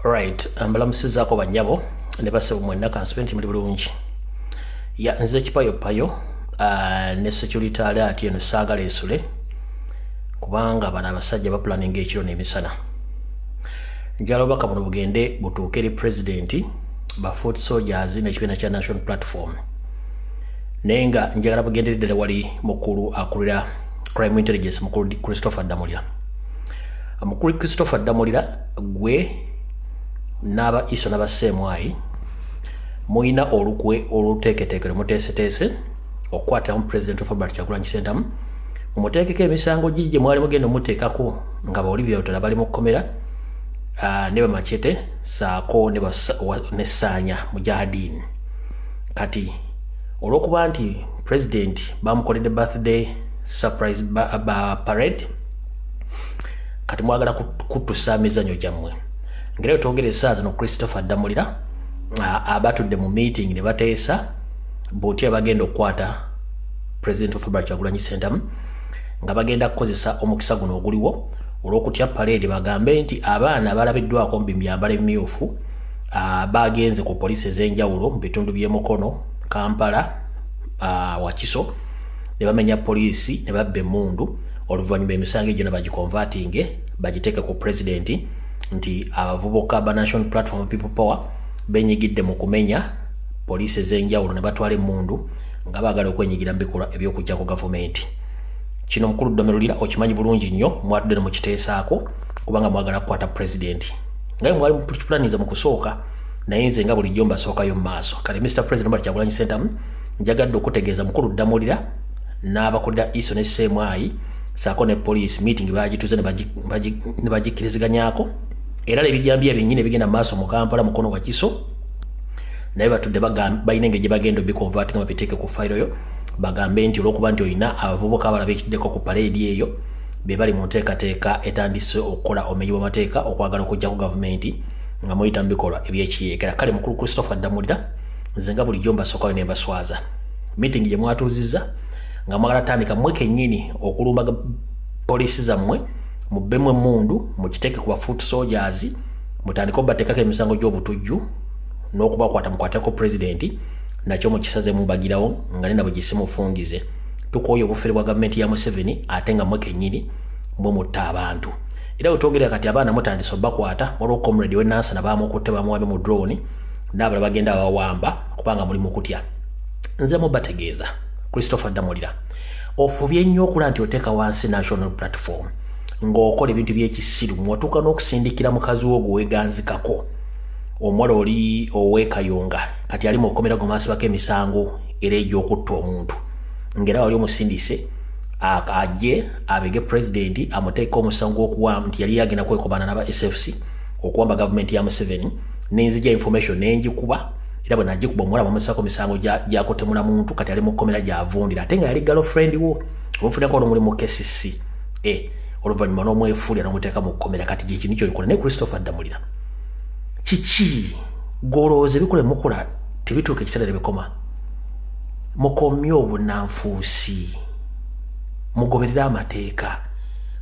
right um, mbalamusizaako banyabo ne basebo mwenna kansube nti muli bulungi ya nze kipayopayo uh, ne security alert eno saagala esule kubanga bano abasajja bapulaninga ekiro n'emisana njala obubaka buno bugende butuuke eri pulezidenti ba foot soldiers n'ekibiina kya national platform naye nga njagala bugendere ddala wali mukulu akulira crime intelligence mukulu christopher damulya mukulu christopher ddamulira gwe n'aba iso n'abaseemwayi mulina olukwe oluteeketeeke lwe muteeseteese okukwatiramu pulezidenti ofabert kyagulanyi sentamu mumuteekeko emisango giri gye mwali mugenda omuteekako nga baolivia lutala bali mu kkomera ah, ne bamacete saako ne saanya mujahadiini kati olw'okuba nti pulezidenti bamukoledde birthday surprise ba, ba parade kati mwagala kutusa mizanyo gyammwe ngera twogera esaawa zino christopher ddamulira abatudde mu meeting ne bateesa botya bagenda okukwata president of february kyagulanyi sentamu nga bagenda kukozesa omukisa guno oguliwo olwokutya paleedi bagambe nti abaana abalabiddwako mu bimyambala emimyufu bagenze ku poliisi ez'enjawulo mu bitundu by'emukono kampala wakiso ne bamenya poliisi ne babba emundu oluvannyuma emisango egyona bagikonvatinge bagiteeke ku pulezidenti nti abavubuka ba national platform people power benyigidde mu kumenya poliisi ez'enjawulo ne batwala emmundu nga baagala okwenyigira mu bikolwa eby'okugyako gavumenti kino mukulu ddomerulira okimanyi bulungi nnyo mwatudde ne mukiteesaako kubanga mwagala kukwata pulezidenti ngaye mwali mupulaniza mu kusooka naye nze nga bulijjo mbasookayo mu maaso kale mr president bali kyagulanyi sentamu njagadde okutegeeza mukulu ddamulira n'abakulira iso ne seemwayi saako ne poliisi meeting bagituze ne bagikkiriziganyako era nebijambiya byennyini ebigenda mu maaso mu kampala mukono wakiso naye batudde balina engeri gye bagenda obikonvati nga babiteeke ku fayiro yo bagambe nti olwokuba nti olina abavubuka abala bekiddeko ku paleedi eyo be bali mu nteekateeka etandise okukola omenyi bw'amateeka okwagala okuggyako gavumenti nga muyita mu bikolwa ebyekiyekera kale mukulu christopher ddamulira nze nga bulijjo mbasookayo ne mbaswaza meeting gye mwatuuzizza nga mwagala tandika mwe kennyini okulumba poliisi zammwe mubbemu emmundu mukiteeke ku bafoot soldiers mutandike obateekako emisango gy'obutujju n'okubakwata mukwateko pulezidenti nakyo mukisaze mubagirawo nga nina bwe gisimufungize tukooye obufere bwa gavumenti ya museveni ate nga mwe kennyini mwe mutta abantu era wetwogerera kati abaana mutandise obakwata waliwo comrade wenansana bamukutte bamuwambe mu drone n'abalala bagenda abawamba kubanga muli mukutya nze mubategeeza christopher damulira ofubye nnyo okula nti oteeka wansi national platform ng'okola ebintu by'ekisiru mwatuuka n'okusindikira mukazi wo gweweganzikako omuwala oli owekayonga kati ali mu kukomera gwemasibako emisango era egy'okutta omuntu ngera wali omusindise ajje abege pulezidenti amuteeka omusango gwokuwa nti yali yagenda kwekobana naba sfc okuwamba gavumenti ya museveni nenzija information nenjikuba era bwe najje kuba omuwala bamusako misango gyakutemula muntu kati ali mu kkomera gyavundira ate nga yali galo friend wo omufunako olumuli mu kesisi e eh, oluvannyuma n'omwefuulira n'omuteeka mu kkomera kati gyekinu kyoyikola naye christopher addamulira kiki golowooza ebikola emukola tebituuka ekiseera tebikoma mukomye obunanfuusi mugoberere amateeka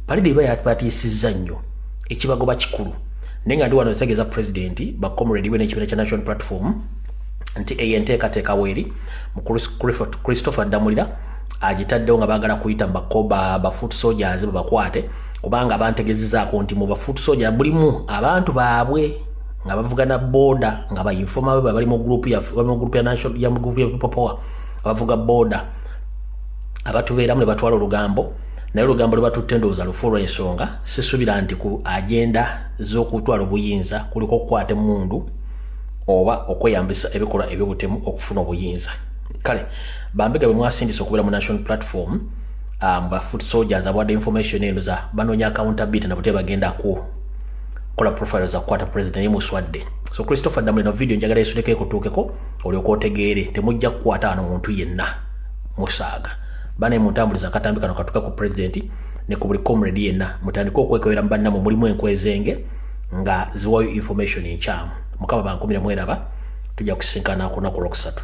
palida eba yatbatiisizza nnyo ekibagoba kikulu naye nga ndi wano ntegeeza pulezidenti bacomredi we n'ekibiina kya national platform nti eyo enteekateeka weeri mu christopher ddamulira agitaddewo nga baagala kuyita mubakoba bafoot soldiers babakwate kubanga bantegezezaako nti mu bafoot soldier bulimu abantu baabwe nga bavugana boda nga bainfoma be bali mu group ya national ya group ya people power abavuga boda abatubeeramu ne batwala olugambo naye olugambo lwebatutte ndowooza lufu olw'ensonga sisubira nti ku agenda z'okutwala obuyinza kuliko okukwata emundu oba okweyambisa ebikolwa ebyobutemu okufuna obuyinza kale bambega bwe mwasindisa okubeera mu national platform um, ba foot soldiers abwadde information eno za banoonya accountability na butee bagenda ku kola profile za kukwata president yemuswadde so christopher damule no video njagala esuleko ekutuukeko olyoka otegeere temujja kukwata ano muntu yenna musaaga bane muntambuliza akatambi kano katuka ku president ne ku buli comrade yenna mutandike okwekebera mu bannamwe mulimu enkwezenge nga ziwayo information enkyamu mukama bankumire mweraba tujja kusinkana ku lunaku olwokusatu